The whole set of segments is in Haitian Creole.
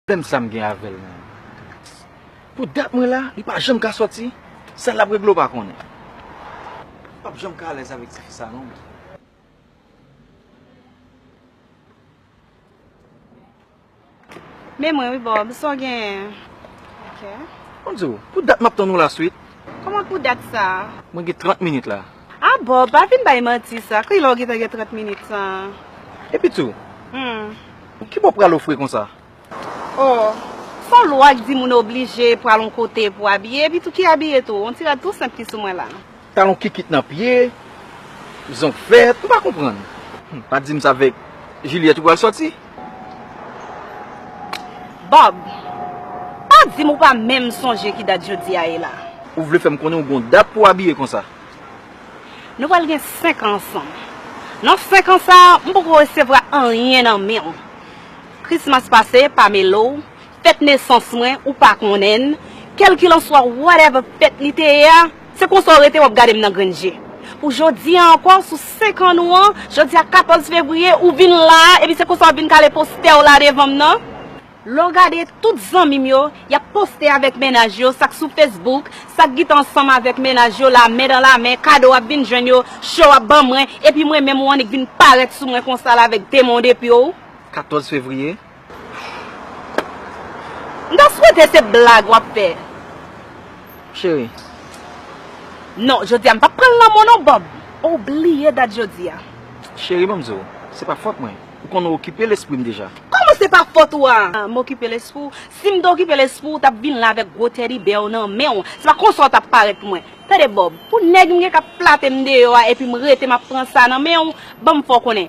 Pèm sam gen avèl menm. Pou dat mwen la li pa janm ka soti sa lap regle ou pa konnen. M pap janm ka alèz avèk tifi sa non mwen. Men mwen wi Bob sa w genyen ok. Map diw pou dat map tann ou la swit. Koman pou dat sa? Mwen gen 30 minit la. Ah Bob pa vin bay manti sa kilè ou gentan gen 30 minit san. Epitou Pou kibò pral ou fre konsa. Oh Fò lwa k di moun oblije pral on kote pou abiye epitou ki abiye tou on ti rad tou senp ki sou mwen la. Talon kikit nan pye Zong vèt m pa konprann. Humm pa dim sa vèk Juliette ou pral sòti. Bob, pa di m ou pa menm sonje ki dat jodi a ye la. Ou vle fè m konnen ou gon dat pou w abiye konsa? Nou pral gen 5 an ansanm. Nan 5 an sa a, m poko resevwa anyen nan men w. Krismas pase, pa mele w. Fèt nesans mwen ou pa konnenn kelkilanswa whatever fèt li te ye a se konsa w rete wap gadem nan grenn je pou jodi a ankò sou 5 an nou an jodi a 14 fevriye ou vin la a epi se konsa wap vin kale postè w la devanm nan. Lè w gade tout zanmim yo yap poste avèk mennaj yo sak sou Facebook sak gita ansanm avèk mennaj yo la men dan la men kado ap vin jwenn yo show ap ban mwen epi mwen menm ou annik vin parèt sou mwen konsa la avèk demon depiw 14 fevriye. M ta swete se blag wap fè cheri. Non jodia m pap pran lanmò non Bob ou bliye dat jodia. Cheri banm di w se pa fòt mwen ou konn ou okipe lespri m deja. Kòman se pa fòt ou a m okipe lespri w si m te okipe lespri w ou tap vin la avèk gwo teddy bear w nan men w se pa konsa w tap parèt pou mwen tande Bob pou nèg m gen kap flate m deyò a epi m rete map pran sa nan men w banm fè w konnen.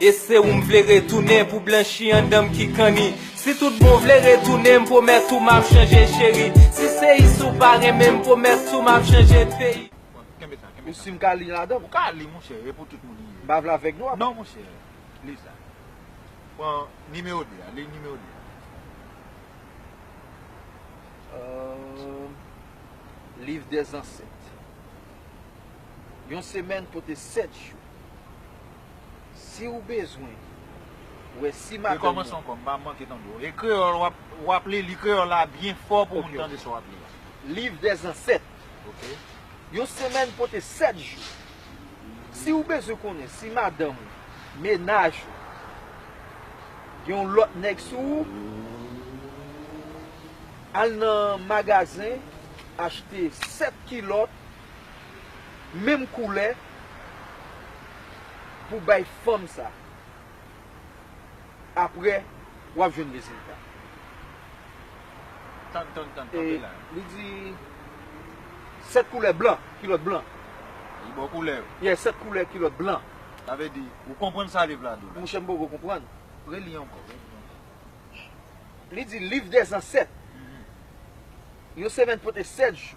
E se ou m vle retounen pou blanchi andan m ki kanni Si tout bon vle retounen m pwomèt ou m ap chanje cheri Si se isi ou pa renmen m pwomèt ou m ap chanje peyi. Kenbe sa, kenbe sa. Ou si m ka li ladan m? Ou ka li monchè, e pou tout moun li ye. M pa vle avèg non. Non monchè, li sa. Pran nimewo 2 a, li nimewo 2 a. Eeeeem Liv dè zansèt Yon semèn pote 7 jou. Siw bezwen wè si madanm ou. E kreyòl wap li, li kreyòl la byen fò pou moun tande sa wap li la. Liv dè zansèt. Yon semèn pote 7 jou. Siw bezwen konnen si madanm ou, menaj ou gen yon lòt nèg sou ou, al nan magazen achte 7 kilòt. menm koulè pou bay fanm sa aprè wap jwenn rezilta e li di 7 koulè blan kilòt blan ye 7 koulè kilòt blan monchè m poko konprann li di liv dèzansèt yon semèn pote 7 jou.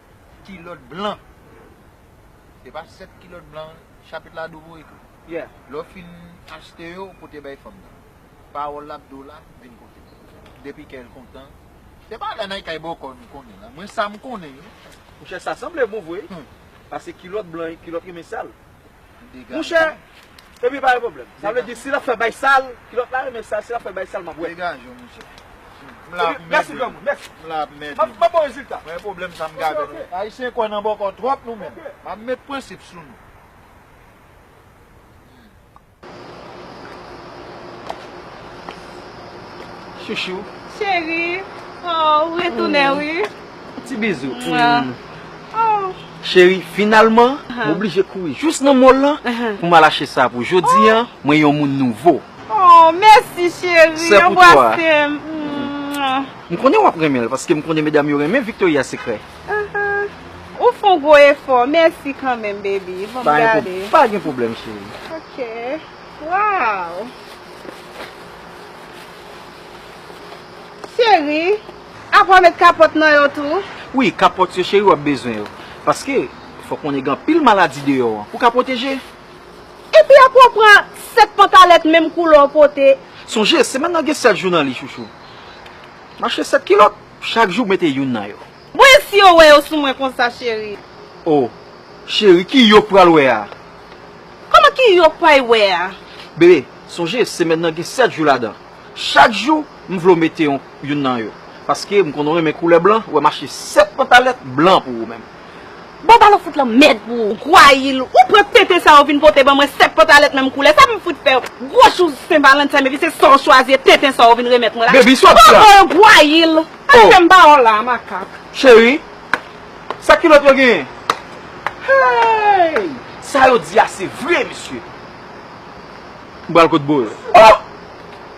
kilòt blan. Se pa 7 kilòt blan chapit la dou pou ou ekri. Lè w fin achte yo, ou pote bay fanm nan. Pawòl l ap di w la, vin kote m. Depi kè l kontan. Se pa la nan kay bòkò nou konnen la. Mwen sa m konnen wi. Monchè sa sanble bon vre wi. Pase kilòt blan kilòt rimè sal. Mouche Epi pa gen pwoblèm Sa vle di si lap fè bay sal Kilòt la renmen sal Si lap fè bay sal map wè Degaje w mouche M la pou m ede w M la pou m ede w Map ba w rezilta Mwen gen pwoblèm sa m gade w Mouche ok Ayisyen kwè nan bòkò twòp nou menm Map met prensip sou nou. Chouchou. Cheri. Oh, ou retounen wi. Ti bizou. Oh. Cheri, finalman, m oblije kouri jous nan mall lan pou m al achte sa pou jodi an, mwen yon moun nouvo. Oh, mèsi cheri. Sa pou twa. Anbwase m. M konnen w ap renmen l paske m konnen medam yo renmen Victoria Secret. Ou fon gwo efò mèsi kanmenm baby banm gade. Pa gen pwoblèm cheri. Ok waww cheri apa w met kapòt nan yo tou. Wi kapòt yo cheri wap bezwen yo paske fò konnen gen anpil maladi deyò an pou ka pwoteje. Epi apa w pran 7 pantalèt menm koulè w pote. Sonje semèn nan gen 7 jou nan li chouchou. Mache 7 kilòt. Chak jou mete youn nan yo. Bon e si yo wè yo sou mwen konsa cheri. Oh cheri ki yok pral wè a. Koman ki yok pay wè a. Bebe sonje semèn nan gen 7 jou ladan chak jou m vle w mete yon youn nan yo paske m konn ou renmen koulè blan wè m achte 7 pantalèt blan pou ou menm. Bon balo fout lan mèd pou ou. Gwayil, ou pran tenten sa ou vin pote ban mwen 7 pantalèt menm koulè, sa m fout fèw? Gwo jou sen valanten epi se sa ou chwazi e tenten sa ou vin remèt mwen la? Baby sot sa! Oh oh Gwayil! Al fè m ba ou la a makak. Cheri, sa kilòt yo genyen? Hey! Sa yo di a se vre mesye! M pral kot boo yo. Oh!